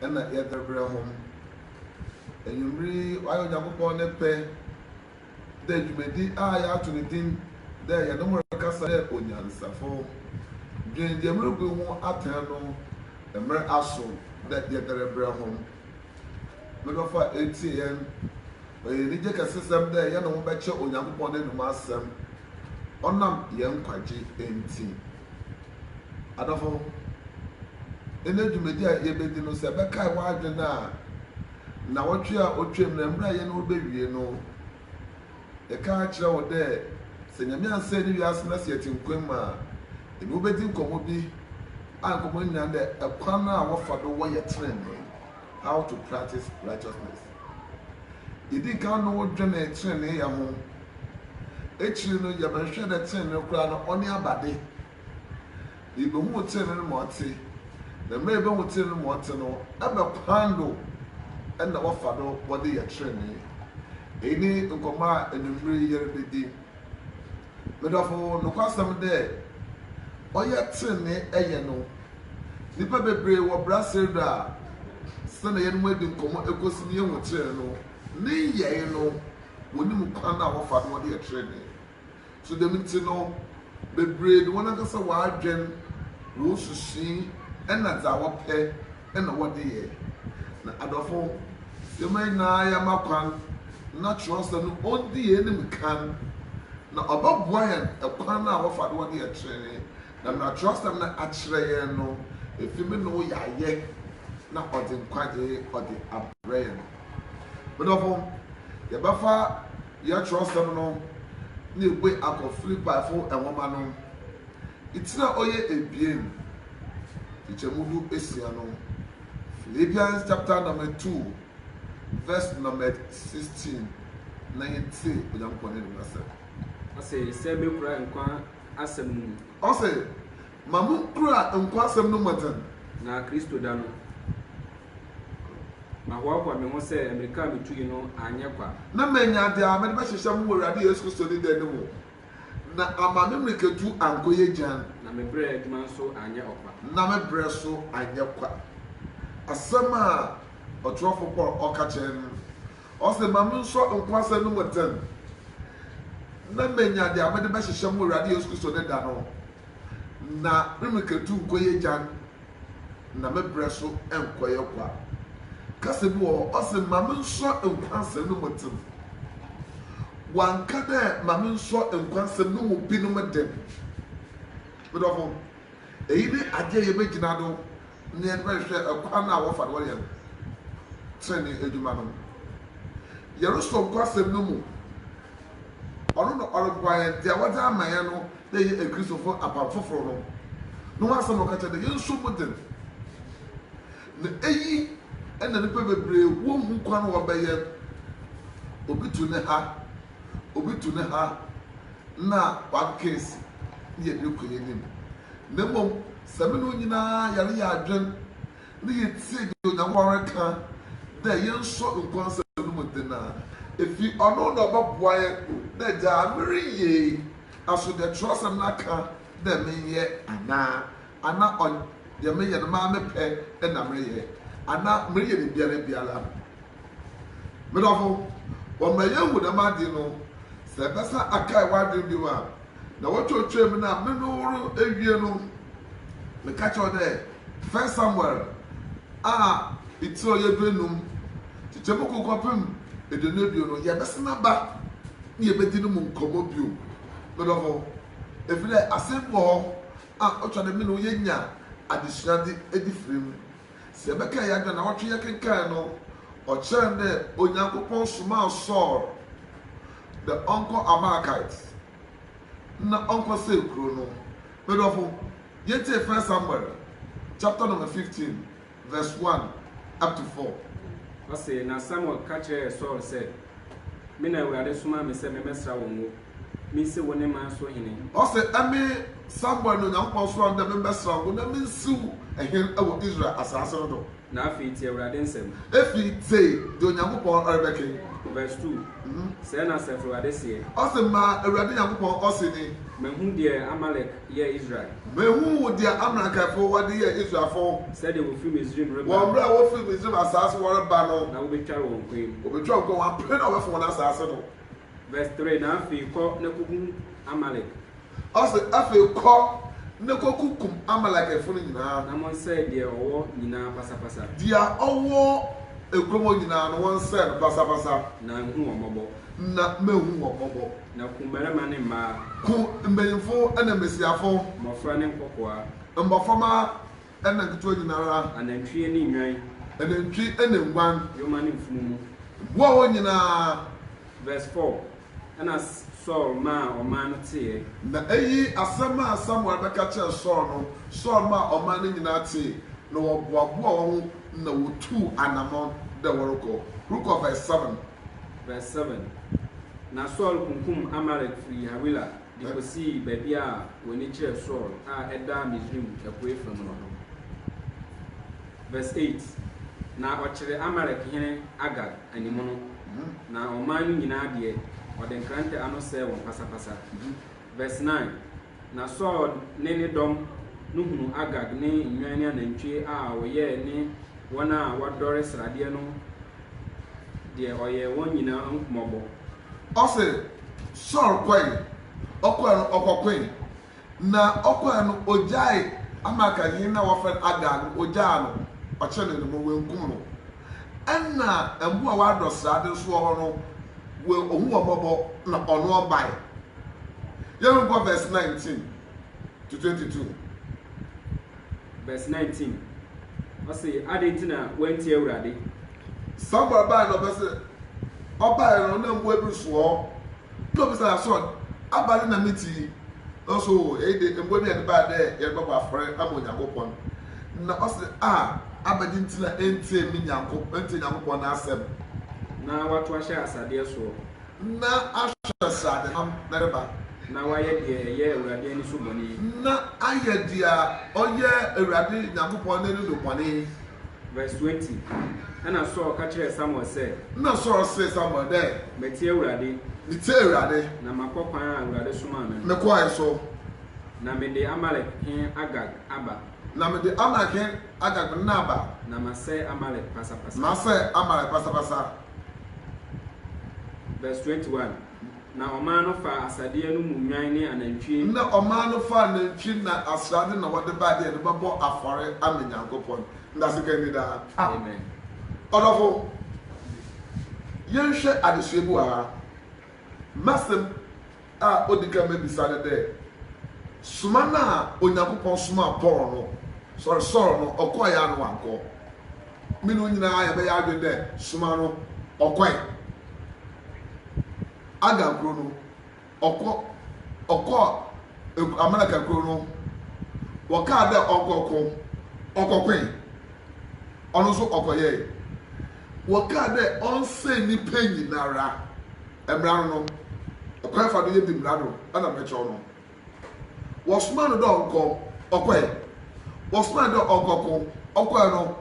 na yɛdzebrɛ hom. Ewimbir yi ɔayɛ Onyankopɔn ne pɛ dɛ dwumadzi a yɛato no dzin dɛ Yɛne Mo Rekasa Dɛ Onyansafo, Dwen Dza Murubu Ho Atsɛn no mber aso dɛ yɛdze rebrɛ hom. Me dɔfo a eretsie hɛn, ɔyɛ enyigye kɛsesɛm dɛ yɛne wo bɛkyɛ Onyankopɔn n'anomu asɛm ɔnam hɛn nkwagye ntsi. Adɔfo, ɛnnɛ dwumadi a yebedi no, sɛ ɛbɛkae w'adwene a, nnawɔtwe a otwaam na mber a yɛnye wo bewie no, yɛkaa kyerɛɛ wo dɛ sɛ Nyame annsɛɛ ne wiase na sɛ yɛtse nkwa mu a, yɛnye wo bedzi nkɔmbɔ bi a nkɔmbɔ no nyina ndɛ kwan a wɔfa do wɔyɛ tsenenee. How to Practice Righteousness. Yedii kan no dwenee tseneneeyɛ ho. Ekyir no, yɛbɛhwehwɛɛ dɛ tsenenee koraa no, ɔnye abade. Na yebohun tsenenee no ma ɔtse. Na mbrɛ yebohun tsenenee no ma ɔtse no, ebɛn kwan do na wɔfa do wɔdze yɛ tsenenee? Iyi nye nkɔmbɔ a ewimbir yi yɛrebedzi. Me dɔfo, nokwasɛm dɛ ɔyɛ tsenenee yɛ no, nyimpa beberee wɔ brasɛr do a, sɛnea yɛnye hɔn edi nkɔmbɔ ekosi no yehu tsenenee no ne nyɛe no, wonyim kwan a wɔfa do wɔde yɛ tsenenee. So dɛm ntsi no, beberee de hɔnankasa w'adwen, wosusu, na dza wɔpɛ na wɔde yɛ. Na adɔfo, yɛma yɛn nyinaa yɛma kwan na Kyerɛwnsɛm no ɔndi yɛn anim kan, na ɔbɛboa yɛn kwan a wɔfa do wɔde yɛ trenee. Na nea Kyerɛwnsɛm no akyerɛ yɛn no, efi me ne wo yɛayɛ, na ɔde nkwagye ɔde abrɛ yɛn. Me dɔfo, yɛbɛfa yɛn Kyerɛwnsɛm no na yɛabue akɔ Filipaifo nwoma no tiri a ɔyɛ abien. Nkyekyɛmu du esia no, Philippians chapter number two verse numbered sixteen na yɛtse Onyankopɔn ne Dom asɛm. Ɔse, Sɛ mekura nkwa asɛm no mu. Ɔse, Ma mo nkura nkwa asɛm no mu dzen. Na Kristo da no, mahoahoa me ho sɛ mbrika a mitui no annyɛ kwa. Na menya dza medze bɛhyehyɛ mo wɔ Ewuradze Yesu Kristo ne dɛ no mu. Na ama me mmirikatu ankɔyɛ gyann. Na me berɛ adwuma nso anyɛ ɔkwa. Na me berɛ nso anyɛ kwa. Asɛm a ɔtwerɛfoɔ Paul ɔka kyerɛ no, ɔse, Ma me nsɔ nkwa asɛm no mu tɛn, na manya deɛ mede bɛhyehyɛ mo Awurade Yesu Kristo ne da no, na me mmirikatu nkɔyɛ gyann. na me berɛ so nkɔyɛ kwa. Kasa bi wɔ hɔ, ɔse ma me nsɔ nkwa nsɛm no mu dzen. Ɔannka dɛ ma me nsɔ nkwa nsɛm no mu binom dzen. Me dɔfo, iyi nye adze a yebegyina do na yɛdze bɛhwehwɛ kwan a wɔfa do yɛ tsenenee edwuma no. Yɛrosɔ nkwa nsɛm no mu, ɔno na ɔroboa hɛn, dza wɔdze ama hɛn no, Yɛyɛ Akristofo apam foforo no no ho asɛm a ɔka kyerɛ no, yɛnso mu den. Na eyi na nnipa bebree wonhu kwan a wɔbɛyɛ. Obi tu ne ha, obi tu ne ha, na wakeka asi, na yɛde rekɔ yɛn anim. Na mmom, sɛ me ne wo nyinaa yɛyare yɛn adwene na yetie deɛ Onyankopɔn reka dɛ yɛnsɔ nkwa nsɛm no mu den a, efi Ɔno na ɔbɛboa yɛn dɛ gyaa mereyɛ yi, Aso dɛ kyerɛwsɛm no akã dɛ menyɛ anaa? Ana ɔnn deɛ meyɛ no maa me pɛ na mereyɛ? Anaa mereyɛ ne biara biara? Me dɔfo, wɔma yehu dɛm adze no, sɛ ebɛsan akae w'adwen bio a, na wotwatwaa mu na me no woro ewie no, mekã kyerɛ wo dɛ, First Samuel a itsir a ɔyɛ duenum, kyekyɛmu kor kɔpem eduonu ebien no, yɛbɛsan aba. ne yebedzi no mu nkɔmbɔ bio. Me dɔfo, efi dɛ asɛm bi wɔ hɔ a otwa dɛ me nye wo yenya adzesua dze edzi firi mu. Sɛ yɛbɛkaa hɛn adwen a naawɔtwe yɛkenkaan no, ɔkyerɛɛ no dɛ Onyankopɔn somaa Saul dɛ ɔnkɔ Amalekite na ɔnkɔsɛɛ kurow no. Me dɔfo, yɛntsiee First Samuel chapter number fifteen Verse one up to four. Ɔse, Na Samuel ka kyerɛɛ Saul sɛ, Me na Awurade somaa me sɛ memmɛsra wo ngo, mensi wo ne man so hene. Ɔse, Eme Samuel na Onyankopɔn soaa me dɛ memmɛsra wo ngo na mensi wo hene wɔ Israel asaase no do. Na afei tie Awurade nsɛm. Afei tie deɛ Onyankopɔn rebɛke. Verse two, Sɛɛ na Asafo Awurade seɛ. Ɔse, Ma Awurade Nyankopɔn ɔse ni. Mahu deɛ Amalek yɛɛ Israel. Mehu wo deɛ Amalekefoɔ wɔde yɛɛ Israelfoɔ. Sɛdeɛ wɔfiri Misraim reba. Wɔ mmerɛ a wɔfiri Misraim asaase so wɔreba no. Na wɔbɛtware wɔn kwan mu. Wɔbɛtware wɔn kwan mu, wɔapene na wɔafi wɔn asaase no. Verse three, Na afei kɔ na kɔkum Amalek. Ɔse, Afei kɔ na kɔkukum Amalekfoɔ no nyinaa. Na monsɛe deɛ ɔwɔ nyinaa pasapasa. Deɛ ɔwɔ aguaman nyinaa no, wɔnsɛe no pasapasa. Na nhu wɔn mmɔbɔ. Na mɛhu wɔn mmɔbɔ. Na ku mmarima ne mmaa. Ku mbanimfo na mbasiafo. Mmɔfra ne nkɔkoaa. Mboframba na nketewa nyinara. Anantwie ne nnwan. Anantwi na nguan. Yoma ne mfunumu. Boa hɔn nyinaa. Verse four, Ɛnna Saul maa ɔman no teeɛ. Na eyi asɛm a Samuel bɛka kyerɛɛ Saul no, Saul maa ɔman no nyinaa tee, na wɔboaboaa hɔn ho na wotuu anamɔn dɛ wɔrokɔ. Rokɔ verse seven. Verse 7, Na Saul kunkum Amalek firii Hawila de kɔsii baabi a w'ani kyerɛ Sur a ɛda Misraim apueeɛ fam no ho. Verse 8, Na ɔkyeree Amalek hene Agag anim no, na ɔman no nyinaa deɛ, ɔde nkrantɛ ano sɛee wɔn pasapasa. Verse 9. Na Saul ne ne dɔm no hunuu Agag ne nnwan ne anantwie a ɔyɛɛ ne wɔn a wɔadɔre sradeɛ no deɛ ɔyɛɛ wɔn nyinaa mmɔbɔ. Ɔse Saul kɔe, ɔkɔe no ɔkɔkoe, na ɔkɔe no ogyaee Amalekahene no a wɔfrɛ no Agag no, ogyaa no, ɔkyenee no, mmom wankum no. Nna mbowa a wɔadɔ sradze so wɔ hɔ no, woehu hɔn mbɔbɔ na ɔno ɔbae. Yɛhwɛ nkɔ verse nineteen to twenty-two. Verse nineteen, ɔse, Adɛn nti na woantie Awurade? Samuel bae na ɔpɛ sɛ ɔbae no, nna mbowa bi so wɔ hɔ. Nna obisaa so ɔn, Aber no na metsii, naaso iyi de mbowa bi na yɛdze bae dɛ yɛrebɔbɔ afɔr ama Onyankopɔn. Nna ɔse, A, abɛgye ntsi na enntsie me Nyanko enntsie Nyankopɔn n'asɛm? Na wɔatow ahyɛ asadeɛ soɔ. Na ahwɛ srade nam na ɛreba. Na wɔayɛ deɛ ɛyɛ Awurade ani so bɔne. Na ayɛ deɛ ɔyɛ Awurade Nyankopɔn n'ani so bɔne. Verse twenty, Ɛnna Saul ka kyerɛɛ Samuel sɛ. Nna Saul see Samuel dɛ. Matsie Ewuradze. Metsie Ewuradze. Na makɔ kwan a Ewuradze somaa me no. Mekɔe so. Na mede Amalek hen Agag aba. Na mede Amalek hen Agag nna aba. Na masɛɛ Amalek pasapasa. Masɛɛ Amalek pasapasa. Verse twenty-one, Na ɔman no faa asadeɛ no mu nnwan ne anantwie. Na ɔman no faa nantwi na asrade na wɔde bae de ɛde bɛbɔ afɔre ama Nyankopɔn. Ndaase ka nni daa. Amen. Ɔdɔfo, yɛnhwɛ adesua bi wɔ ha. M'asɛm a odi kan mɛbisa ne dɛ, Soma no a Onyankopɔn somaa Paul no, sɔre Saul no, ɔkɔɔe anaa wankɔ? Me ne wo nyinaa yɛbɛyɛ adwene dɛ, Soma no, ɔkɔe. Agar kuro no, ɔkɔ ɔkɔɔ eg Amalɛka kuro no, wɔkaa dɛ ɔnkɔko, ɔkɔkoe, ɔno so ɔkɔyɛe, wɔkaa dɛ ɔnsɛe nyimpa nyinara, mbra no no, kwan efa do yedzi mbra do na mɛkyerɛw no, wɔsomaa no dɛ ɔnkɔ, ɔkɔe, wɔsomaa no dɛ ɔnkɔko, ɔkɔe no,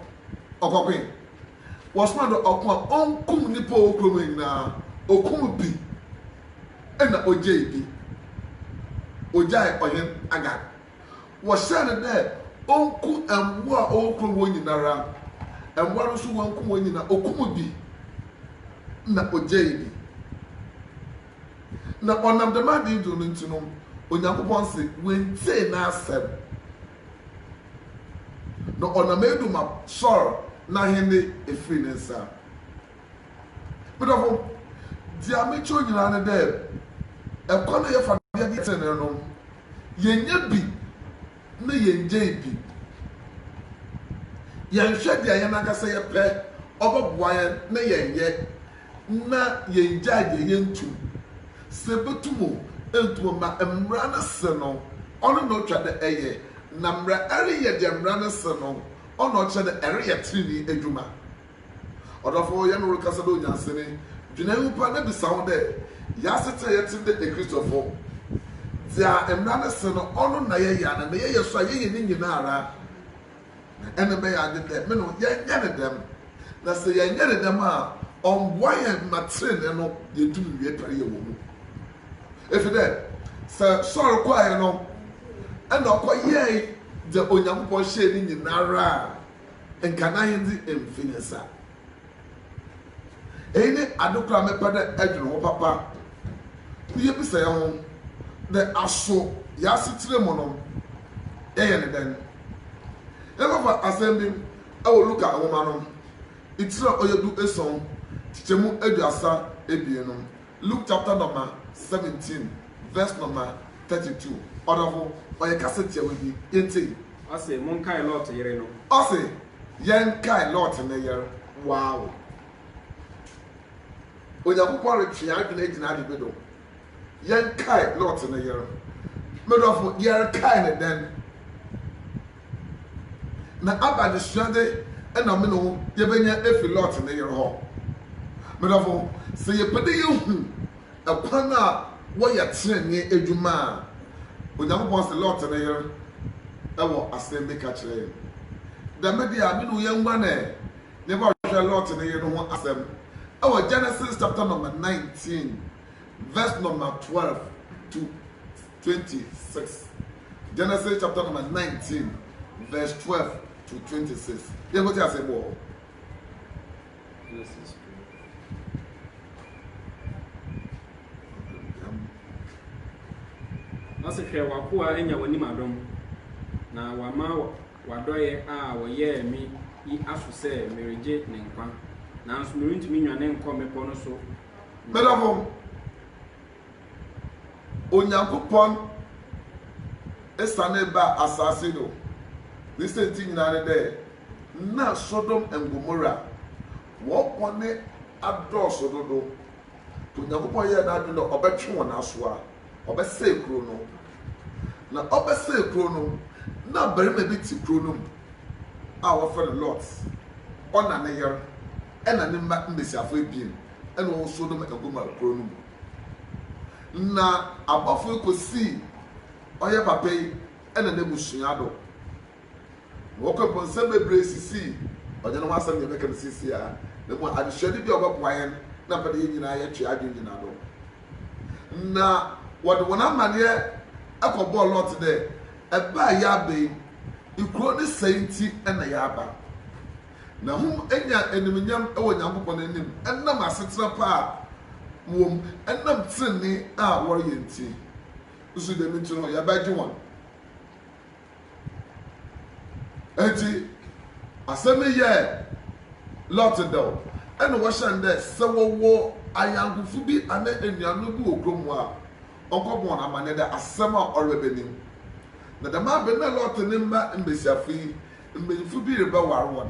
ɔkɔkoe, Wɔsomaa no ɔko a ɔnkum nnipa a ɔwɔ kurom hɔ nyinaa. Ɔkum bi, ɛnna ɔgyee bi. Ɔgyaee Ɔhene Agag. Wɔhyɛɛ no dɛ ɔnku mboa a ɔwɔ kurom hɔ nyinara. Mboa no so ɔannku hɔn nyina, ɔkum bi na ɔgyee bi. Na ɔnam dɛm adze yi do no ntsi no, Onyankopɔn se woenntsie n'asɛm. Na ɔnam eyi do ma Saul n'ahendzi efir ne nsa. Me dɔfo, dza mekyerɛw nyina nye dɛ, kwan a yɛfa do yɛ tsenenee no, yɛnyɛ bi na yɛnngyae bi. Yɛnhwɛ dza hɛnankasa yɛpɛ, ɔbɔboa hɛn na yɛnyɛ. na yɛngyae deɛ yɛntum. Sɛ bɛtum o, ɛntum o, ma mmara no se no, ɔno na ɔtwa dɛ ɛyɛ, na merɛ ɛreyɛ deɛ mmara no se no, ɔna ɔkyerɛ dɛ ɛreyɛ trenee adwuma. Ɔdɔfo o, yɛ no rekasa dɛ onyansani, dwene ho paa na bisa ho dɛ, Yɛ asetena a yɛte no dɛ Akristofo, deɛ mmara no se no, ɔno na yɛyɛ anaa? Na yɛyɛ so a, yɛyɛ ne nyina ara? Na nna ɛbɛyɛ ade dɛ me no yɛnyɛ no dɛm, na sɛ yɛannyɛ no dɛm a ɔmmboa hɛn mma tsenenee no yeetum nwie tariyɛ wɔ mu. Efi dɛ sɛ Saul kɔe no, nna ɔkɔyɛe dza Onyankopɔn hyɛe no nyinara a, nka n'ahendzi mmfi ne nsa. Eyi ne ade kor a mepɛ dɛ edwen ho papa. Nna yebisa hɛnho dɛ, 'Aso yɛasetsena mu no yɛyɛ no dɛn? Yɛbɛfa asɛm bi wɔ Luka nwoma no tsir a ɔyɛ du esuon, nkyekyɛmu eduasa ebien no Luke chapter nɔma seventeen verse nɔma thirty two, Ɔdɔfo, ɔyɛ kasa tiawa bi, yɛntie. Ɔse, Monkae Lot yere no. Ɔse, Yɛnkae Lot ne yere. Wow! Onyankopɔn retwe yɛn adwene agyina ade bi do. Yɛnkae Lot ne yere. Me dɔfo, yɛrekae no dɛn? na aba adesuade na me ne wo yɛbɛnya afi Lot ne yere hɔ. M'adɔfo, sɛ yɛpɛ dɛ yɛhu ɛkwan a wɔyɛ trenee adwuma a, Onyankopɔn se Lot ne yere wɔ asɛm bi ka kyerɛ yɛn. Dɛm de a, me ne wo yɛnguan ɛ na yɛkɔhwɛ Lot ne yere no ho asɛm wɔ Genesis chapter number nineteen verse number twelve to twenty six. Genesis chapter number nineteen verse twelve to twenty six. Yẹ kó ti ase bọ̀. Genesis twelve. Ɔse hwɛ w'akoa anya w'anim adom, na wama w'adɔeɛ a ɔyɛɛ me yi aso sɛ meregye ne nkwa, nanso merentumi nnwane nkɔ mmepɔ no so nkɔ. Meda fam. Onyankopɔn sanee baa asaase do ne siantsir nyina nye dɛ nna Sodom and Gomorrah hɔn bɔn adɔɔ sõ dodow. Ntsi Onyankopɔn yɛɛ n'adwen dɛ ɔbɛtwe hɔn asoa, ɔbɛsɛɛ kurow no. Na ɔbɛsɛɛ kurow no, nna abarimba bi tse kurow no mu a wɔfrɛ no Lot, ɔna ne yer na ne mba mbasiafo ebien. na wɔsow no ma ɛgu maa kurow no mu. Na abɔfo yi kosii ɔyɛ papa yi na n'ebusua do, na wɔkɔe mpo nsɛm beberee sisii, ɔnnyɛ no ho asɛm na yɛbɛka no seseiara, na mbom adzesuade bi a ɔbɔboa hɛn na mepɛ dɛ hɛn nyina yɛtwe adwen gyina do. Na wɔdze hɔn amanneɛ kɔbɔɔ Lot dɛ, Ba a yɛaba yi, kurow no sɛɛ ntsi na yɛaba. Na hom enya enyimnyam wɔ Nyankopɔn n'enyim nam asetsena pa a wɔwɔ mu, nam tsenenee a wɔreyɛ ntsi. Nso dɛm ntsi no, yɛabɛgye hɔn. Ntsi asɛm no yɛɛ Lot dɛw, nna wɔhyɛ no dɛ sɛ wɔwɔ anyɛnkofo bi anaa enuanom bi wɔ kurow mu a, ɔnkɔbɔ hɔn amandzɛ dɛ asɛm a ɔreba no nim. Na dɛm aber no nna Lot ne mba mbasiafo yi Mbanyimfo bi rebɛwar hɔn.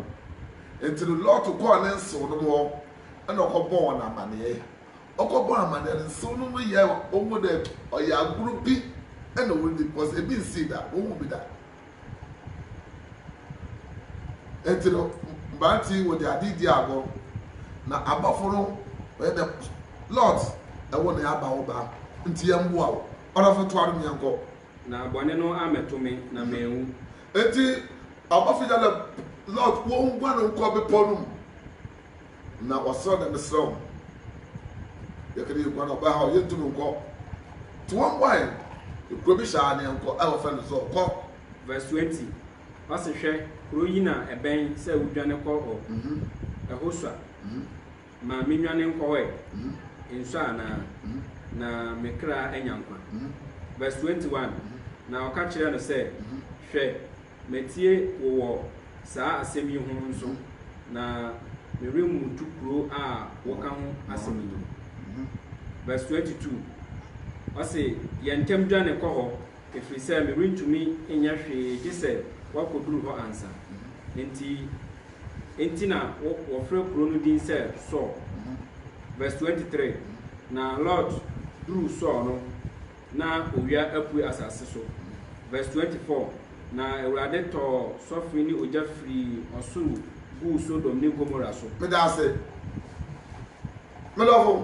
Ntsi no Lot kɔr ne nsewnom hɔ na ɔkɔbɔɔ hɔn amanee. Ɔkɔbɔɔ amanee no, nsewnom no yɛɛ oho dɛ ɔyɛ agor bi na woridzi bcos bi nnsii da, wohun bi da. Ntsi no mberantsɛ yi wɔdze adze dzii agor na abɔfo no wɔyɛ dɛ Lot, ɛwo na yɛaba wo ba ntsi yɛmmboa wo. Ɔdɔfo toa do na yɛnkɔ. Na bɔne no ammɛto me na manwu. Enti abɔfo Yalem, Lot, wonguan nkɔ bepɔw no mu, na wɔsrɛ dɛ, Mesrɛ wo, yɛkã dɛ yeguan a, ɔbɛhaw hɛn, yenntum nnkɔ. Ntsi wonguan, na kurow bi hyɛ anee nkɔ a wɔfrɛ no Zoar, kɔ. Verse twenty, Ɔse, Hwɛ, kurow yi na ɛbɛn sɛ wudwane kɔ hɔ, ɛho sua. Ma menwane nkɔ hɔ ɛ, nsɔ anaa, na me kra anya nkwa. Verse 21, Na ɔka kyerɛɛ no sɛ, Hwɛ, matie wo wɔ saa asɛm yi ho nso, na meremmutu kuro a woka ho asɛm yi. Verse 22, Ɔse, Yɛ ntɛm dwane kɔ hɔ, ɛfiri sɛ merentumi nyɛ hwee gye sɛ woakɔduru hɔ ansa. Enti. Enti na wɔfrɛ kurow no din sɛ Sur. Vs. 23 Na Lot duruu Sur no, na owia apue asase so. Vs. 24 Na Awurade tɔɔ sɔfe ne ogya firii ɔsoro guu Sodom ne Gomora so. Meda ase, me dɔfo.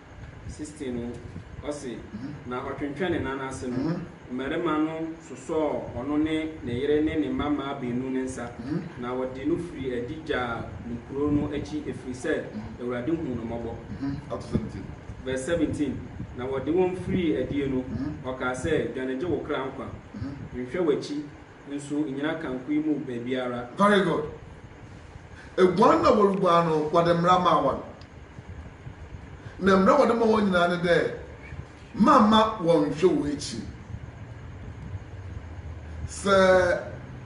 16 no, ɔse, Na ɔtwentwɛn ne nan ase no, mmarima no sosɔɔ ɔno ne ne yere ne ne mma mmaa baanu no nsa, na wɔde no firii adi gyaa no kuro no akyi, ɛfiri sɛ Awurade huu no mmɔbɔ. Verse 17, Na wɔde wɔn firii adie no, ɔkaa sɛ, Dwane gye wo kra nkwa, nhwɛ w'akyi, Nso nnyina kankoyi mu baabiara. Very good. Eguan na woruguan no, wɔde mbra maa hɔn. Na mbra a wɔde ma hɔn nyina nye dɛ, mamma wɔnnhwɛ wo ekyir. Sɛ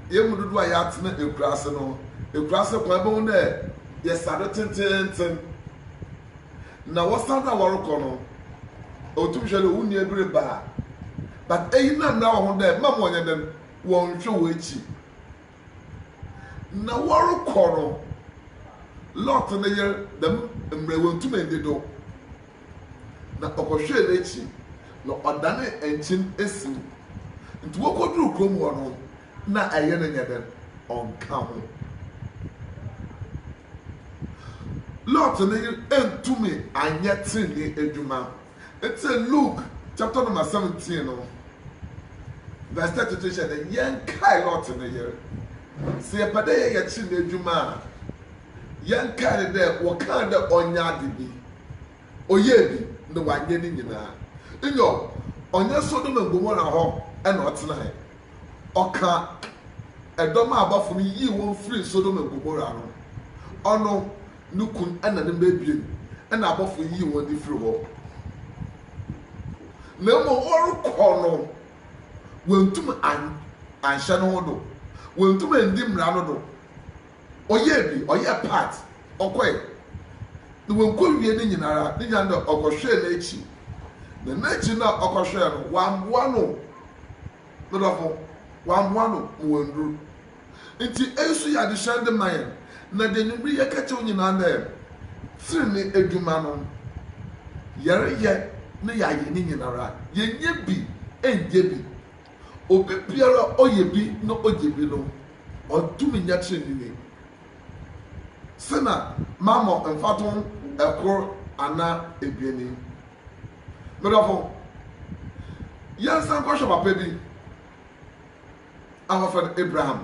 hɛn mu dodow a yɛatsena ekuraase no, ekuraase kwan, ibohu dɛ yɛsa do tsentsenntsen. na wɔsan na wɔrokɔ no, otum hwɛ dɛ wo nua bi reba a, but eyi na mbra wɔ ho dɛ mma ma ɔnyɛ dɛn, wɔnnhwɛ w'ekyir. Na wɔrokɔ no, Lot ne yer dɛm mbrɛ woenntum enndi do, na ɔkɔhwɛɛ n'ekyir, na ɔdanee nkyen esiw. Ntsi wokodur kurom hɔ no, nna ɛyer no nnyɛ dɛn, ɔnnka ho. Lot ne yere antumi anyɛ trenee adwuma. Nti Luke chapter number seventeen no verse thirty three hyɛ dɛ, Yɛnkae Lot ne yere. Sɛ yɛpɛ dɛ yɛyɛ trenee adwuma a, yɛnkae no dɛ wɔkaa dɛ ɔnyɛ ade bi, ɔyɛɛ bi, na ɔannyɛ ne nyina. Nyew, ɔnnyɛ Sodom and Gomorrah hɔ na ɔtsenae, ɔkaa dɔm a abɔfo no yii wɔn firii Sodom and Gomorrah no, ɔno, ne kun na ne mma abien na abɔfo yii wɔn de firii hɔ. Na mmom wɔrekɔ no, wɔantum an, anhyɛ no ho do, wɔantum andi mmara no do, Ɔyɛɛ bi, ɔyɛɛ part, ɔkɔe. Na wankowie ne nyinara, ne nyinaa no ɔkɔhwɛɛ n'akyi. Na n'akyi no a ɔkɔhwɛɛ no, wamboa no. Me dɔfo, wamboa no ma wanduru. Nti eyi nso yɛ adesua de ma yɛn. Na deɛ anwummere yi yɛka kyerɛ wo nyinaa dɛ, trenee adwuma no, yɛreyɛ na yɛayɛ ne nyinara, yɛnyɛ bi nnyɛ bi. Obi biara a ɔyɛ bi na ogye bi no, ɔntumi nyɛ treneeni. Sɛ na mammɔ mfatoho kor anaa ebien yi. Me dɔfo, yɛnsan nkɔhwɛ papa bi a wɔfrɛ no Abraham.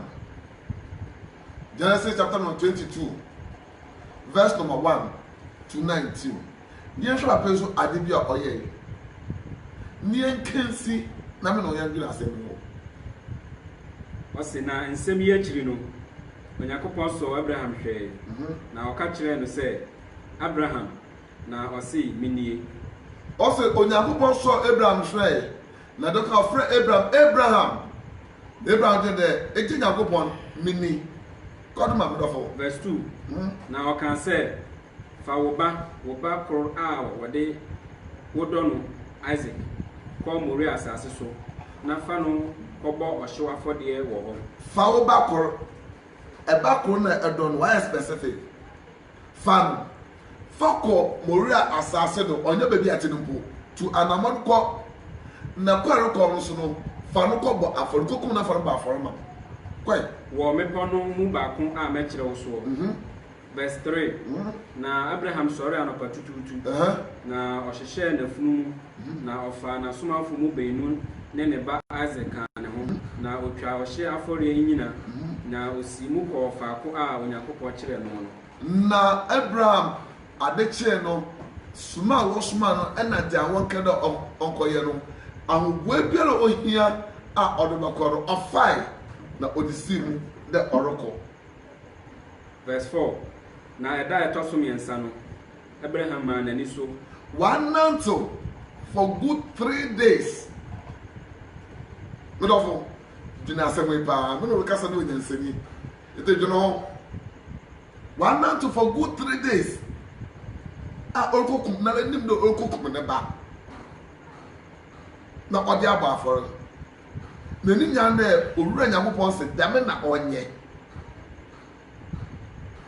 Genesis chapter no 22. verse number one to nineteen. Yɛnhwɛ no afei nso ade bi a ɔyɛe. Neɛ nka nsi na me ne wo yɛndwene asɛm yi ho. Ɔse, Na nsɛm yi akyiri no, Onyankopɔn sɔɔ Abraham hwɛe, na ɔka kyerɛɛ no sɛ, Abraham, na ɔse, Menie. Ɔse, Onyankopɔn sɔɔ Abraham hwɛe. Na dɔk a ɔfrɛ Abraham, Abraham! Na Abraham gyee dɛ, Egye Nyankopɔn, mini. Kɔ do ma me dɔfo. Verse two, Na ɔkaa sɛ, Fa wo ba, wo ba kor a wɔde wodɔ no, Isaac, kɔ Moria asaase so, na fa no kɔbɔ ɔhyew afɔdeɛ wɔ hɔ. Fa wo ba kor. Ba kor na ɛdɔ no, ɔayɛ specific. Fa no, fa kɔ Moria asaase do, ɔnnyɛ beebi a etse no mpo. Tu anamɔn kɔ, na kɔ a erokɔ no so no, fa no kɔ bɔ afɔr, kokum no na fa no bɔ afɔr ma me. Kɔe. Wɔ mbepɔw no mu baako a mɛkyerɛ wo soɔ. Verse three, Na Abraham sɔree anɔpatutuutu, na ɔhyehyɛɛ n'afunumu. Na ɔfaa n'asomafo mu beenu ne ne ba Isak kaa ne ho, na otwaa ɔhyeɛ afɔreɛ nnyina, na osii mu kɔɔ faako a Onyankopɔn kyerɛɛ no no. Na Abraham ade kyee no, soma a wɔsomaa no na dea wɔkaa dɛ ɔnkɔyɛ no, ahoboa biara a ohia a ɔdze bɔkɔ no, ɔfae, na ɔdze sii mu dɛ ɔrokɔ. Verse four, Na da a ɛtɔ so mmiɛnsa no, Abraham maa n'ani so. Wɔanantew for good three days. Me dɔfo, dwene asɛm yi paa. Me na ɔrekasa no yɛ onyansani, enti dwene ho. Wɔanantew for good three days a ɔrekokum, n'ara nim dɛ ɔrekokum ne ba na ɔde abɔ afɔr. N'enyi nyaa dɛ Owura Nyankopɔn se dɛm na ɔnyɛ.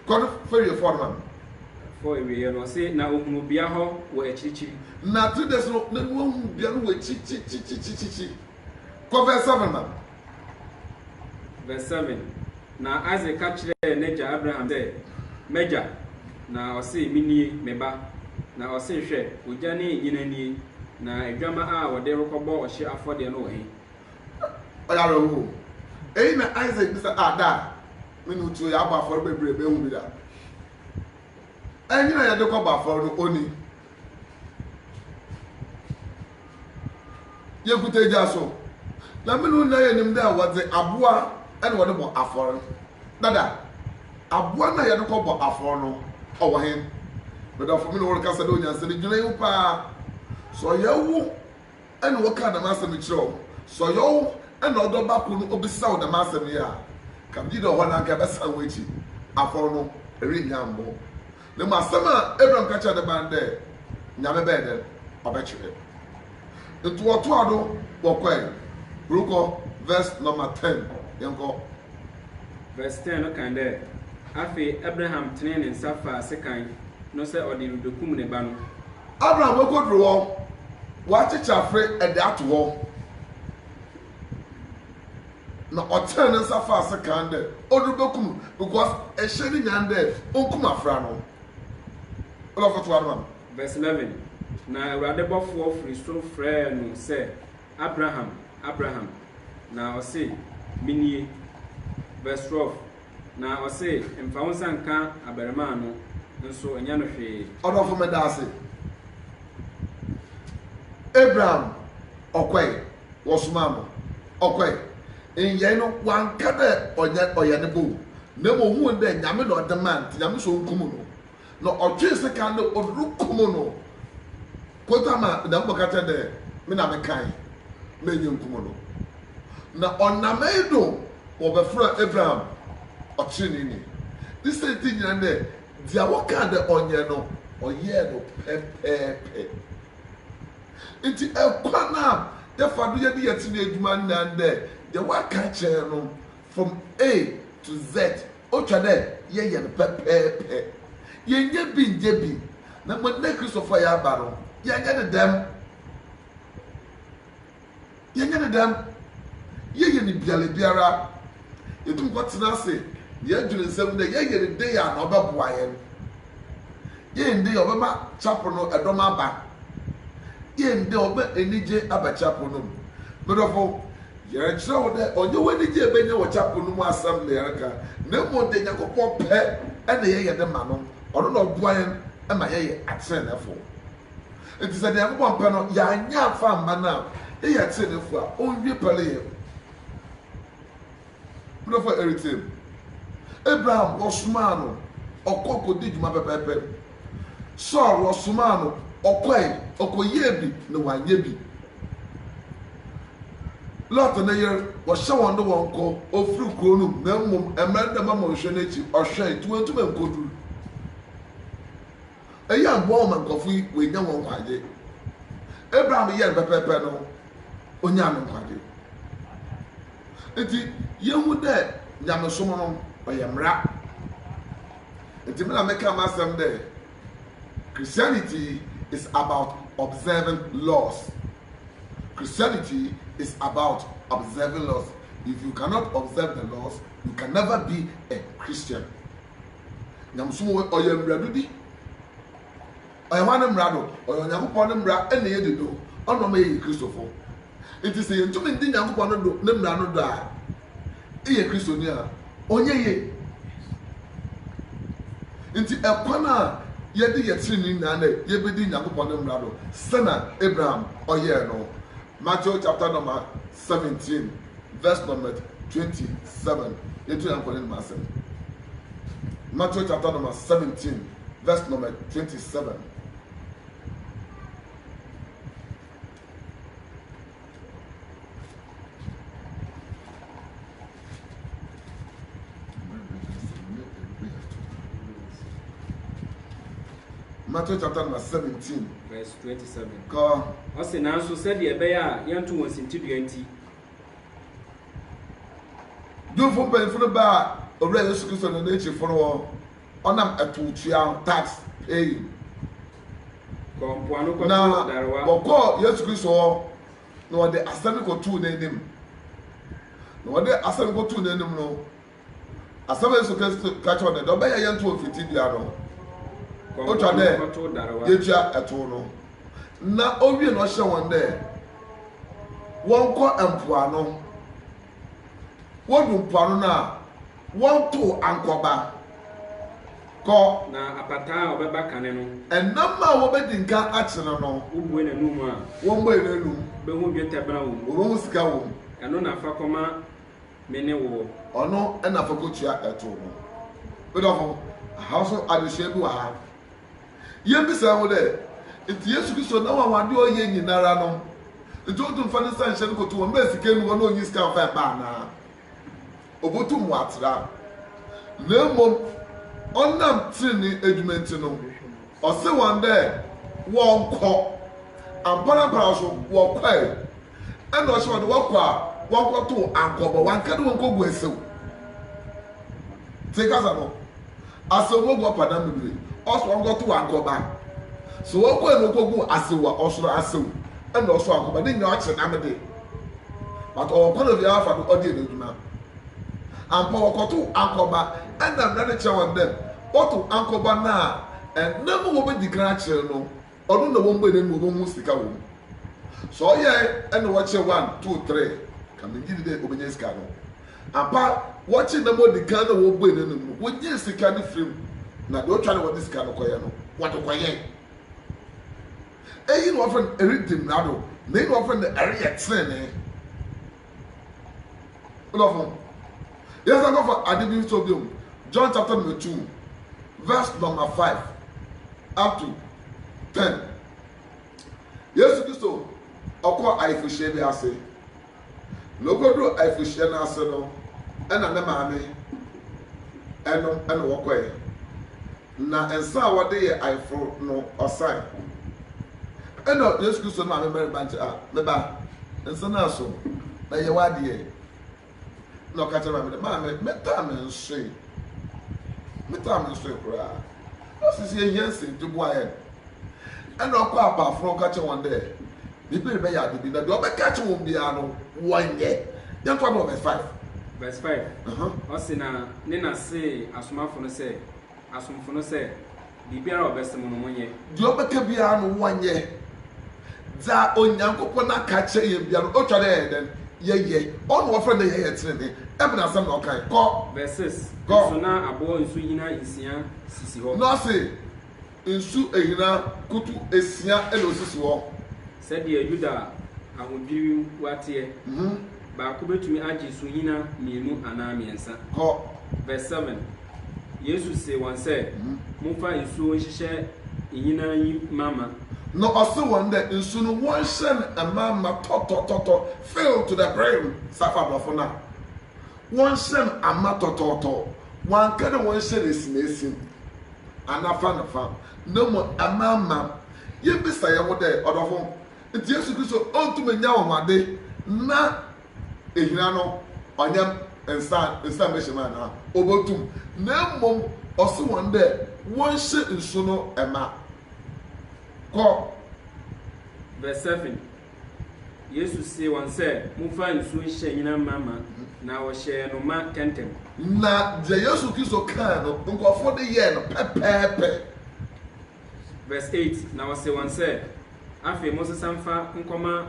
Kɔ do fa wie fɔɔ no ma me. Fɔɔ wieeɛ no, ɔse na ɔhunuu bea hɔ wɔ akyirikyiri. Na three days no, na wahunu bea no wɔ akyirikyirikyirikyirikyiri. Kɔ verse seven ma me. Verse seven, Na Isak ka kyerɛɛ n'agya Abraham sɛ, M'agya! Na ɔse, Menie, me ba. Na ɔse, Hwɛ, ogya ne nnyina nie, na adwamma a wɔde rekɔbɔ ɔhyeɛ afɔdeɛ no wɔ he? ɔyɛ awerɛhow. Eyi na Isak bisa, Ah, da a me ne wo tuo yɛabɔ afɔre bebree a mehu bi da? Ɛnyɛ na yɛde kɔbɔ afɔre no oni. Yekuta egya so, na me ne wo nyinaa yenim dɛ wɔdze aboa na wɔde bɔ afɔre. Dada, aboa no a yɛde kɔbɔ afɔre no, ɔwɔ hen? Me dɔfo, me ne wo rekasa dɛ onyansani, dwen ho paa. Sɛ ɔyɛ wo na wɔkaa dɛm asɛm yi kyerɛɛ wɔn. Sɛ ɔyɛ wo na wo dɔba kor no obisa wo dɛm asɛm yi a, ka bi da hɔ na anka ebɛsan w'ekyir afɔr no, erennya ammbɔ wo. Na mbom asɛm a Abraham ka kyerɛɛ ne ba no dɛ, Nyame bɛyɛ dɛn? Ɔbɛkyerɛ. Ntsi wɔtoaa do wɔkɔe rokɔ, verse number ten, yɛnkɔ. Verse ten no kan dɛ, Afei Abraham tsenee ne nsa faa sekan no sɛ ɔdze rubekum ne ba no. Abraham okodur hɔ, ɔakyekyer afre dze ato hɔ, na ɔtsenee ne nsa faa sekan dɛ ɔdze rubekum no because ehyɛ ne nyan dɛ onkum afra no. Olafo toa do ma me. Verse eleven, Na Ewurade bɔfoɔ fri sor frɛɛ no sɛ, Abraham, Abraham! Na ɔse, Menie. Verse 12, Na ɔse, Mfa wo nsa nka abarimaa no, nso nyɛ no hwee. Ɔdɔfo medase. Abraham ɔkɔe, wɔsomaa no, ɔkɔe. Nnyɛe no wɔanka dɛ ɔnyɛ ɔyɛ ne bɔn mu, na mbom ohun dɛ Nyame na ɔdze maa no ntsi Nyame se onkum no. Na ɔtwee sekan dɛ ɔdze rukum no. Kota ma Nyankopɔn ka kyerɛɛ dɛ, Me na mekãe, ma enye nkum no. Na ɔnam iyi do wɔbɛfrɛɛ Abraham ɔtseneneeni. Ne siantsir nyina ndɛ, dza wɔkãa dɛ ɔnyɛ no, ɔyɛɛ no pɛpɛɛpɛ. Ntsi kwan a yɛfa do yɛ ne yɛn tsenee edwuma nye dɛ, dza wɔakã kyerɛ no from A to Z, Otwa dɛ yɛyɛ no pɛpɛɛpɛ. Yɛnnyɛ bi nnyɛ bi, na mbom dɛ Christofo a yɛaba no, yɛnyɛ no dɛm. Yɛnyɛ no dɛm. Yɛyɛ no bialabiara. Yetum kɔ tsena ase na yɛdwen nsɛm dɛ yɛyɛ no dei a na ɔbɛboa hɛn. Yɛyɛ no dei a ɔbɛma chapel no dɔm aba. Yɛyɛ no dei a ɔbɛma enyigye aba chapel no mu. Mo dɔfo, Yɛrekyerɛ wo dɛ ɔnnyɛ w'enyigye a ebenya wɔ chapel no mu asɛm na yɛreka, na mbom dɛ Nyankopɔn pɛ na yɛyɛ ne ma no, ɔno na ɔboa hɛn ma yɛyɛ atseneneefo. Ntsi sɛ Nyankopɔn pɛ no yɛannyɛ ammfa amma no a, yɛyɛ atseneneefo a onnwie pɛ no yɛ. Me dɔfo a eretsie me, Abraham wɔsomaa no ɔkɔ kodii dwuma pɛpɛɛpɛr. Saul wɔsomaa no ɔkɔe, ɔkɔyɛɛ bi na ɔannyɛ bi. Lot ne yer, wɔhyɛ hɔn dɛ wɔnkɔ, ofir kurow no mu, na mbom mbrɛ dɛm amonhwɛ no ekyir ɔhwɛe ntsi oenntum ennkodur. Iyi ammboa hɔn ma nkorɔfo yi woennya hɔn nkwagye. Abraham yɛɛ no pɛpɛɛpɛr no, onyaa no nkwagye. Ntsi yehu dɛ nyamesom no ɔyɛ mbra. Ntsi me na mekã m'asɛm dɛ. Christianity is about observing laws Christianity is about observing laws If you cannot observe the laws, you can never be a Christian Nyamesom wɔ ɔyɛ mmerɛdo bi Ɔyɛ hwan ne mmara do? Ɔyɛ Onyankopɔn ne mmara na yɛdi do Ɔno na ɔma yɛyɛ Kristofo. Ntsi sɛ yenntum nndi Nyankopɔn no do ne mbra no do a, eyɛ Christoni a? Ɔnnyɛ yie. Ntsi kwan a yɛdze yɛ tsenenee nyina dɛ yebedzi Nyankopɔn ne mbra do sɛna Abraham ɔyɛe no. Matthew chapter number seventeen verse number twenty seven, yɛnto Nyankopɔn n'anomu asɛm. Matthew chapter number seventeen verse number twenty seven. Matthew chapter number seventeen. Verse twenty-seven. Kɔ. Ɔsi nanso sɛdeɛ ɛbɛyɛ a yɛnto wɔn sintidua nti. Jewfo mpanyinfo no baa owura Yesu Kristo ne n'akyifo no hɔ Ɔnam atowtua ho, tax paying, Kɔɔ mpoano na kɔtoo darewa. ɔkɔɔ Yesu Kristo hɔ na ɔde asɛm no kɔtoo n'anim. Na ɔde asɛm no kɔtoo n'anim no, asɛm a Yesu Kristo ka kyerɛɛ no dɛ, dɛ ɔbɛyɛ yɛntow mfitsidua no, Kɔɔ otwa mpoano dɛ kɔtoo darewa. yetua tow no. Na owie no ɔhyɛɛ hɔn dɛ wɔnkɔ mpoano. Wodu mpoano no a, Wɔntow ankɔba. Kɔ. Na apataa a ɔbɛba kane no. Ɛnam a wobedi nkan akyene no. Wobue n'anom a. Wɔbue n'anom. Wubehu dwetɛ bena wom. Wubehu sika wom. Ɛno na fa kɔma me ne woɔ. Ɔno na fa kɔtua ɛtoɔ no. Me dɔfo, aha nso adesua bi wɔ ha. Yɛbisa wo dɛ, nti Yesu Kristo n'anwanwadeɛ a ɔyɛ nyinara no, nti ɔntum fa ne nsa nhyɛ no kɔto wɔn bɛɛ sika nni hɔ na ɔnyi sika mfa mma anaa? obotum ɔatra, na mbom ɔnam tsenenee edwuma ntsi no, ɔse hɔn dɛ wɔnkɔ. Ampara ampara so, wɔkɔe. Nna ɔhyɛ hɔn dɛ wɔkɔ a, wɔnkɔtow ankɔbɔ, wɔannkã dɛ wɔnkɔgu esew. Tse kasa no. Asew no gu ɔpadan mu bere ɔsoro ankɔtow ankɔba. Sɛ ɔkɔe na okogu asew a, ɔsoro asew na ɔsow ankɔba. Ne nyinaa ɔkye nam de. But ɔwɔ kwan obiara afa do ɔde yɛ n'adwuma. Ampa wɔkɔtow ankɔba na mmara no kyerɛ wɔn dɛ wɔtow ankɔba no a, ɛnnɛ mu wobedi kan akyere no. Ɔno na wɔn bue n'anom a wɔbɛhu sika wɔ mu. Sɛ ɔyɛe na wɔkyɛ one, two, three, ka mengye nni dɛ ɔbɛnya sika no. Ampa, wɔkye nam a ɔdi kan na wɔbue n'anom no, wɔgye sika no firi mu, na deɛ ɔtwa na wɔde sika no kɔyɛ no, wɔde kɔyɛ. Eyi na wɔfrɛ no redi mmara do, na eyi na wɔfrɛ no reyɛ tenenee. Dɔfo, yɛnsan nkɔfa ade bi nso bio, John chapter number two, verse number five up to ten. Yesu Kristo ɔkɔɔ ayeforohyia bi ase, na okoduruu ayeforohyia no ase no, ɛna ne maame ɛnom ɛna wɔkɔɛ. Na nsa a wɔde yɛ ayeforo no, ɔsae. Ɛnna Yesu Kristo maa me mmarima nkyɛ, a Me ba, nsa no ara so, na yɛ w'adeɛ. Ɛnna ɔka kyerɛɛ maame no, Maame, metaa me nsoe. Metaa me nsoe koraa. Na ɔse sɛ yɛhia nsɛm nti, boa yɛn. Ɛnna ɔkɔɔ apaaforo hɔ kɔka kyerɛɛ wɔn dɛ, Me ba rebɛyɛ ade bi, na deɛ ɔbɛka akyerɛ wɔn biara no, wɔnyɛ. Yɛnkɔ na ɔbɛfae. Verse five, ɔse na ne na see asomafo no sɛ, asomfo no sɛ, Biribiara a ɔbɛse mo no, monyɛ. Deɛ ɔbɛka biara no, wɔnyɛ. Dza Onyankopɔn aka akyerɛ hɛn biara no, otwa dɛ yɛyɛ dɛn? Yɛyɛ. Ɔno na wɔfrɛ no dɛ yɛyɛ tsenenee. Ebɛn asɛm na ɔkae? Kɔ. Verse six, Kɔ. Nso na aboɔ nsuhina nsia sisi hɔ. Na ɔse. Nsu ahina kutu asia na osisi hɔ. Sɛdeɛ Yuda ahodwiriw wa teɛ. Baako bɛtumi agye suhina mmienu anaa mmiɛnsa. Kɔ. Verse seven, Yesu see wɔn sɛ, Momfa nsuo nhyehyɛ nhina yi ma ma. Na ɔsee wɔn dɛ, Nsu no, wɔnhyɛ no mma ma tɔtɔtɔtɔ, fill to the brim, sɛ afa aborɔfo no a. wɔn nsam ama tɔtɔɔtɔ, wɔanka dɛ wɔnhyɛn esimesi anaa fa no fa, na mbom amaama. Yebisa hɛnho dɛ, Ɔdɔfo, ntsi Yesu Kristo onntum nnyɛ anwanwade na ehina no ɔnnyɛ nsa nsa mbehyɛ mu anaa? Obotum, na mbom ɔse hɔn dɛ wɔnhyɛ nsu no ma. Kɔ. Verse seven, Yesu see wɔn sɛ, Momfa nsuo nhyɛ nnyina mma ma, na wɔhyɛɛ no ma kɛntɛm. Na deɛ Yesu Kristo kae no, nkurɔfoɔ de yɛɛ no pɛpɛɛpɛ. Verse eight, Na ɔsee wɔn sɛ, Afei monsesa mfa nkɔma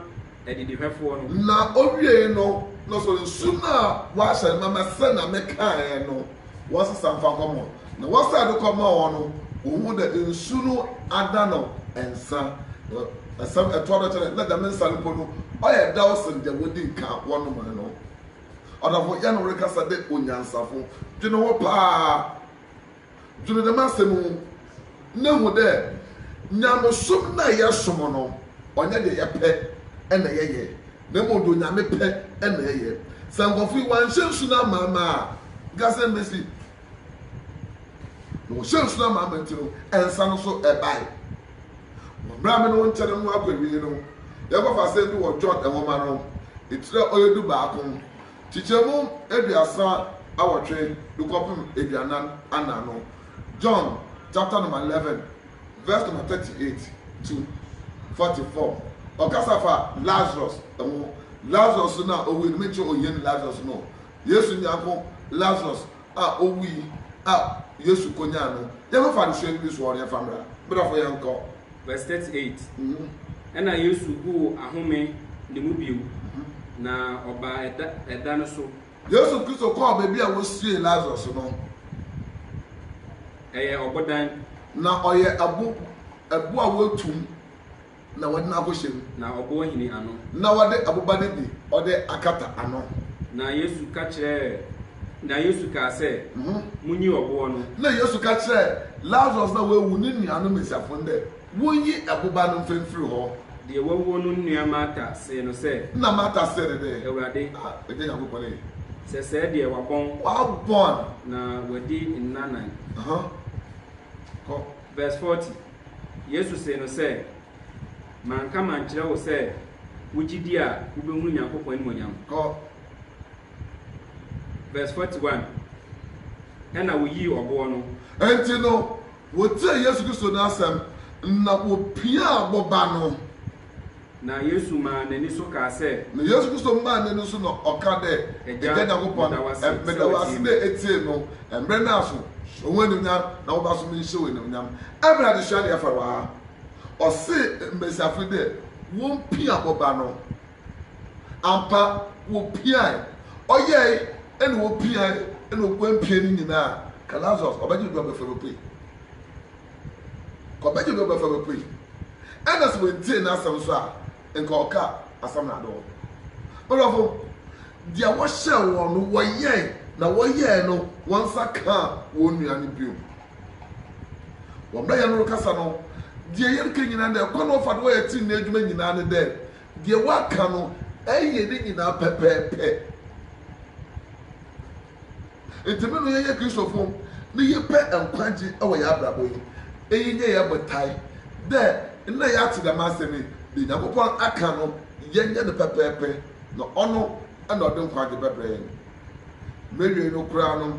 adidihwɛfoɔ no. Na ɔwiee no, na ɔsɔre nsu no a wɔahyɛ no ma mɛsɛ na mekaeɛ no. wɔasesa mfa kɔma wɔn. Na wɔsan de kɔma wɔn no, wohu dɛ nsu no ada no nsa. Na asɛm a ɛtoa do kyerɛ dɛ nna dɛm nsa no mpo no, ɔyɛ dɛw sen dza wodzi nka wɔnomae no. Ɔdamfo yɛn no rekasa dɛ onyansafo. Dwen ho paa. Dwen dɛm asɛm yi ho. na hu dɛ nyamesom no a yɛsom no, ɔnnyɛ deɛ yɛpɛ na yɛyɛ, na mmom deɛ Onyame pɛ na yɛyɛ. Sɛ nkorɔfo yi wɔannhyɛ nsu no amaama a, nka sɛn bɛsi? Na wɔhyɛɛ nsu no amaama nti no, nsa no so bae. Wɔ mmerɛ a me ne wo nkyɛne no akɔ awiei no, yɛbɛfa asɛm bi wɔ John nwoma no etire a ɔyɛ dubaako, nkyekyɛmu aduasa awɔtwe de kɔpem aduanan anan no John chapter number eleven verse number thirty eight to forty four ɔkasa fa Lazarus ɛho Lazarus no a owui no me nkyɛ ohia ni Lazarus no Yesu nyanko Lazarus a owui a Yesu kɔ nyaa no yɛ no fa no suani bi so ɔno yɛ fa mmra mmra fo yɛ nkɔ. Verse thirty eight ɛna Yesu guu ahome ne mu bio na ɔbaa ɛda ɛda no so Yesu Kristo kɔɔ baabi a wosiee Lasarus no. Ɛyɛ ɔbodan. Na ɔyɛ ɛbo, ɛbo a wɔatum na wɔde no akɔhyɛ mu. Na ɔbo ahini ano. Na wɔde ɛboba no bi ɔde akata ano. Na Yesu ka kyerɛɛ, na Yesu kaa sɛ, Munyi ɔboɔ no. Na Yesu ka kyerɛɛ Lasarus no a wawu ne nuanom Mesiafo no dɛ. Wonyi ɛboba no mfa mfiri hɔ. Deɛ wawuo no nua Marta see no sɛ. Ɛnna Marta see no dɛ. Awurade. A, Agya Nyankopɔn ee. Sɛ sɛɛ deɛ wabɔn. Wabɔn. Na wadi nna nan. Aha, kɔ. Verse forty, Yesu see no sɛ, Manka mankyerɛ wo sɛ wogye di a wobɛhunu Nyankopɔn animuonyam? Kɔ. Verse forty one, Ɛnna woyii ɔboɔ no. Enti no, Wɔtiee Yesu Kristo no asɛm, na wɔpiaa boba no. Na Yesu maa n'ani so kaa sɛ. Na Yesu Kristo maa n'ani so na ɔkaa dɛ, Agya Nyankopɔn, meda wo ase dɛ etsiee no mber no aso. Hyɛ wo enuonyam, na wo ba so menhyɛ wo enuonyam. Mbrɛ adzesua no yɛ fɛw ara, ɔsee mbasiafo yi dɛ wompia boba no. Ampa, wɔpiae. Ɔyɛe, ɛna wɔpiae, ɛna ɔguan piae no nyinaa, ka Lazarus, ɔbɛgye do abɛfa me pue. Ka ɔbɛgye do abɛfa me pue. Ɛna sɛ wɔantie n'asɛm nso a, nka ɔka asɛm no ade wɔn. Ɔdɔfo, deɛ wɔhyɛɛ wɔn no, wɔyɛe, na wɔyɛe no, wɔn nsa kaa wɔn nua no bio. Wɔ mmerɛ yɛn no rekasa no, deɛ yɛreka nyinaa dɛ, kwan a wɔfa do wɔyɛ tenenee adwuma nyinaa ne dɛ, Deɛ woaka no, ɛyɛ ne nyinaa pɛpɛɛpɛ. Nti me no yɛyɛ Kristofo ne yɛpɛ nkwagye wɔ yɛ abrabɔ yi, eyi nyɛ yɛ botae dɛ nnɛ yɛate dɛm asɛm yi, deɛ Nyankopɔn aka no yɛnyɛ no pɛpɛɛpɛ na ɔno na ɔde nkwagye bɛbrɛ yɛn. Mɛwiei no koraa no,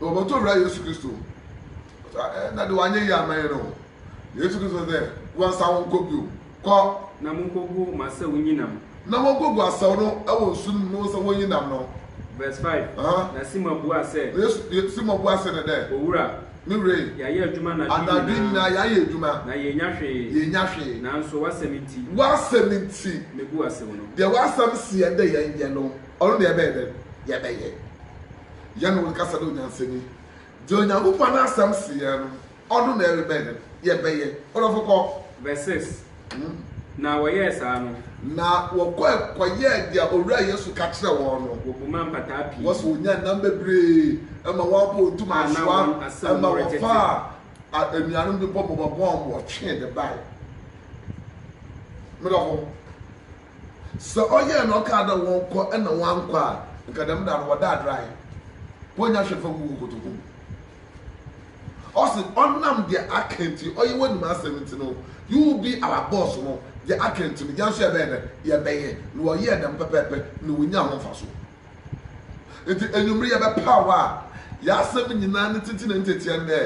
na wɔbɔto wura Yesu Kristo mu. Ɔsɛ ɛ na de wanyɛ yie ama yɛn o. Na Yesu Kristo sɛ, wɔnsa wo nkɔ bio. Kɔ. Na monkogu mo asaw nyinam. Na wɔnkogu asaw no wɔ nsu no mu na wɔnsa wɔn nyinam no. Verse five, Aha. Na Simon buaa sɛ. Na Yesu, Ye, Simon buaa sɛ no dɛ. Owura. Me wura e. Yɛayɛ adwuma anadwo nyinaa. Anadwo nyinaa yɛayɛ adwuma. Na yɛannya hwee. Yɛannya hwee. Nanso w'asɛm nti. W'asɛm nti. Mebu asaw no. Deɛ w'asɛm seɛ dɛ yɛnyɛ no. Ɔno deɛ yɛbɛyɛ dɛn? Yɛbɛyɛ. Yɛne wo kasa dɛ onyansani. Deɛ Onyankopɔn n'asɛm se yɛn no, ɔno na yɛrebɛyɛ dɛn? Yɛbɛyɛ. Ɔdɔfo kɔ. Verse six, Na wɔyɛɛ saa no. Na wɔkɔe kɔyɛɛ deɛ Owura Yesu ka kyerɛɛ wɔn no. Wɔbumaa mpataa pii. Wɔse wɔnyaa nam bebree ma wɔabɔ wɔn ntoma asoa, ma wɔfaa anuanom bi bɔmmɔbɔmmɔ a wɔtwee de bae. Me dɔfo, Sɛ ɔyɛɛ na ɔkaa dɛ wɔnkɔ na wɔannkɔ a, nka dɛm da no wɔda adrae, wonnya hwee mfa ngu hɔn kotoku mu. Ɔse, ɔnam deɛ aka ntsi, ɔyɛ w'enyim asɛm ntsi no, you will be our boss no, deɛ aka ntsi no, hɛn so yɛbɛyɛ dɛn? Yɛbɛyɛ. Na wɔyɛɛ dɛm pɛpɛɛpɛ na wonyaa ho mfaso. Enti ewimbir yɛbɛpaw a y'asɛm nyina ne tsetse na ne tsetsea ndɛ.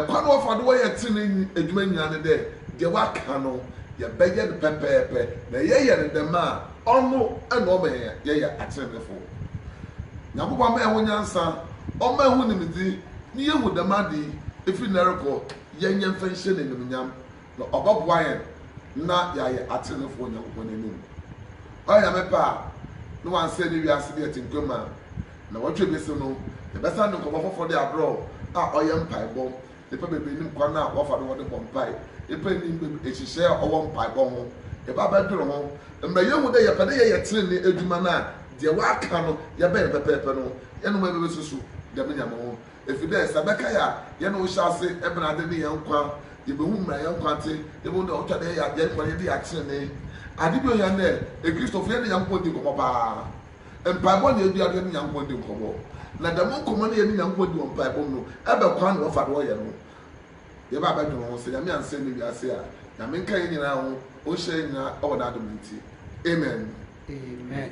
Kwan a wɔfa do wɔyɛ tsenenee edwuma nyina ne dɛ deɛ wɔakã no yɛbɛyɛ no pɛpɛɛpɛ na yɛyɛ no dɛm a ɔno na ɔma hɛn yɛyɛ atseneneefo. Nyankopɔn mma hɛnho nyansa, ɔmma hɛnho nyimdzi na yehu dɛm ade yi, fi ndɛ rokɔ yɛnyɛ mfa nhyɛ no enyimnyam. na ɔbɔboa yɛn na yɛayɛ atsenenefoɔ wɔ Nyankopɔn n'enyim. Ɔyɛ Nyame pɛ a, na ɔannsɛɛ ne wiase bi atsenkwa mu a, naawɔtwe ebesi no, yɛbɛsan de nkɔmbɔ fofor de abrɛ wo a ɔyɛ mpaebɔ. Nyimpa beberee nim kwan a wɔfa do wɔde bɔ mpae. Nyimpa nnyim beb nhyehyɛɛ a ɔwɔ mpaebɔ ho. Yɛba bɛdwen ho mbrɛ yehu dɛ yɛpɛ dɛ yɛyɛ tsenenee edwuma no a, deɛ wɔakã no yɛbɛyɛ no pɛpɛɛpɛ no, hɛn mboa yebesusu dɛm ndzɛmba ho. Efi dɛ sɛ bɛkae a yɛne wo hyɛ ase bena adze nye hɛn nkwa, yebohu mbrɛ hɛn nkwa tse, yebohu dɛ ɔtɔ dɛ yɛyɛ adwen kor yɛdze yɛ atsenenee. Adze bi a ohia nye dɛ Ekristofo yɛne Nyankopɔn dzi nkɔmbɔ paa. Mpaabɔ na yedua do yɛne Nyankopɔn dzi nkɔmbɔ. Na dɛm nkɔmbɔ no a yɛnye Nyankopɔn dzi wɔ mpaabɔ mu no bɛ kwan na wɔfa do wɔyɛ no. Yɛba bɛdwen ho sɛ Nyame annsɛɛ ndɛ wiase a, Nyame nka hɛn nyina ho, Onhyira hɛn nyina wɔ N'adom ntsi. Amen. Amen.